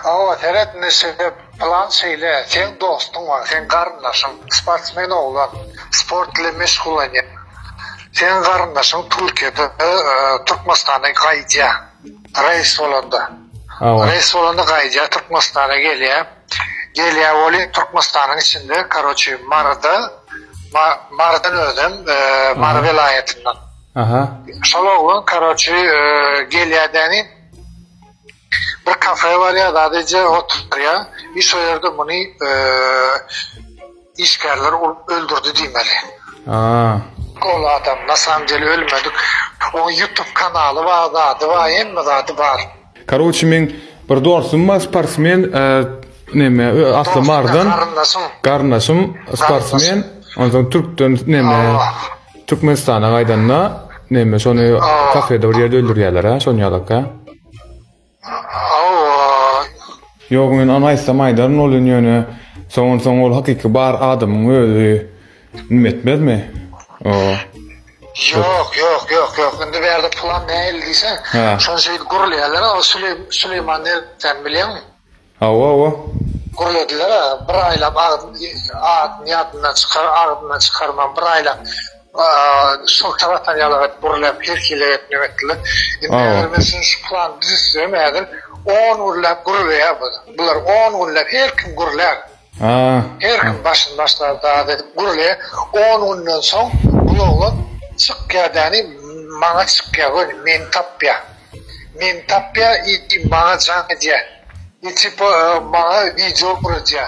Hawa, seret Neşe plan şeýle, seň dostuň bar, seň garyndaşyň, sportsmen oglan, sport bilen meşgullanýar. Seň garyndaşyň Türkiýede, Türkmenistana gaýdýar, reýs bolanda. Hawa. Reýs bolanda gaýdýar, Türkmenistana gelýär. Gelýär welin Türkmenistanyň içinde, karoçi, Maryda, Marydan özem, Mary welaýatyndan. Aha. Şol oglan, karoçi, gelýär däni. Bir kafe barýar, sadece oturýar. Bir şo ýerde muny işgärler urup öldürdi diýmeli. Aa. Ol adam na samom dele ölmedi. Oň YouTube kanaly bar, zady bar, hemme zady bar. Karoçi meň bir dostum bar sportsmen neme asly mardan garyndaşym garyndaşym sportsmen onsoň türkden neme türkmenistana gaýdanda neme şony kafede bir ýerde öldürýärler ha şony ýalaka Hawa. Ýok men ony aýtsam aýdaryn bolýan ýöne soňan soň ol hakyky bar adamyň özi nim etmezmi o. Ýok ýok ýok ýok indi bärde plan nähili diýseň şonça ýyl gurulýarlar o süleýman nerden bilýäňmi. Hawa hawa. Gürlediler a bir aýlap adyny ýadyndan çykar agzyndan çykarman bir aýlap şyltyr atar ýaly edip gürläp her hili edip neme etdiler indi eger men şuny şu plany düzüsem häzir on gürläp gürleýär bular on gürläp her kim gürlär. Her kim başyny başlar daz edip gürle on günden soň bul oglan çykýa däni maňa çykýa göni meni tapýa meni tapýa i maňa jaň edýä i tipo maňa wideo guradýa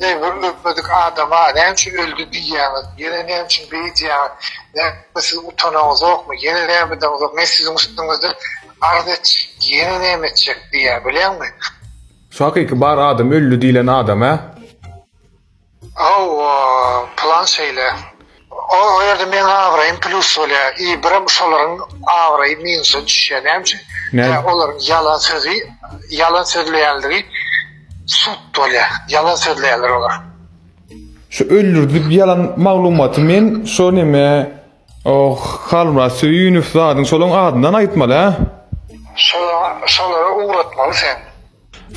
eý bir ölmedik adama näme üçin öldi diýýäňiz ýene näme üçin beýdýäňiz näme siz utanaňyzokmy ýene näme edeňizok men siziň üstüňizde arz etjek ýene näme etjek diýýä bilýäňmi. Şu hakyky bar adam öldi diýlen adam a. Hawa plan şeýle. O ýerde meň abraýym plus bolýar i birem şolaryň abraýy minusa düşýär näme üçin? Näme? Olaryň ýalan sözi ýalan sözleýänligi sud bolýar. Ýalan sözleýärler olar. Şu öldürdi diýip ýalan maglumaty men şo neme Oh Halmyrat Söýünow zadyň şolaň adyndan aýtmaly hä. Şola şolara ugratmaly sen.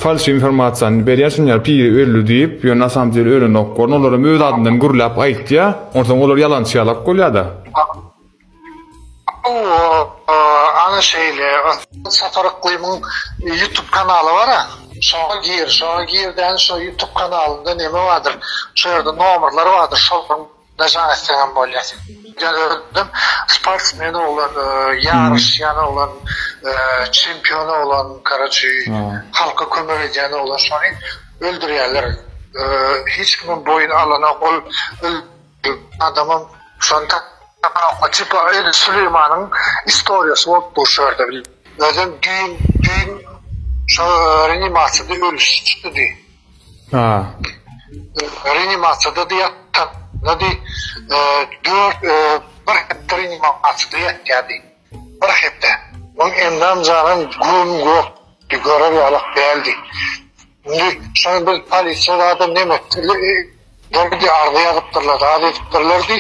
Falş informasiýany berýär şunyar piri öldi diýip ýöne nasamdel ölenok gorn olaram öz adyndan gürläp aýtýa onsoň olar ýalançy ýalak bolýada. Ana şeýle Sapar Yklymyň ýutub kanaly bara şoňa gir şoňa girdäň şo ýutub kanalynda neme bardyr şo ýerde nomerler bardyr şolaryň Daşan etseňem bolýar. Ýa özüm sportsmen oglan, ýaryş ýan oglan, çempion oglan, karaçi, halka kömek edýän oglan şony öldürýärler. Hiç kimiň boýun alanok ol adamym şony tapyp tipa öýde Süleýmanyň istoriýasy bolup dur şu ýerde. Özem düýn düýn şo reanimasiyada ölüşdi diý. Reanimasiýadady ýatanydy. Dört, bir hepde reanimasiýada ýatýady. Bir hepde. Onuň endam janym güm gök. Görer ýalak däldi. Indi şony biz polisiýada neme etdiler? Arza ýazypdyrlar, arz edipdirlerdi.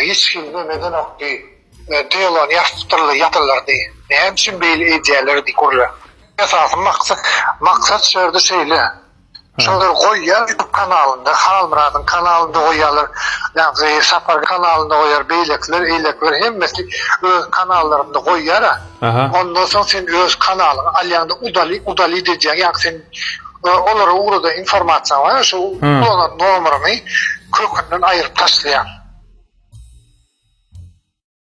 Hiç kim nemedenokdy. Dylan ýaşdyrly ýatyrlardy. Näme üçin beýle edýälerdi gürle. Esasy maksat maksat şu ýerde şeýle. Şolar goýýar ýutub kanalynda Halmyradyň kanalynda goýýarlar ýagny Sapar kanalynda goýýar beýlekiler eýlekiler hemmesi öz kanallarynda goýýara. Ondan soň sen öz kanalyňy alýaňda udalit udalit edýäň ýaňky sen olara ugradan informasiýaň bar ýa şo ulanan nomeryňy kökünden aýryp taşlaýaň.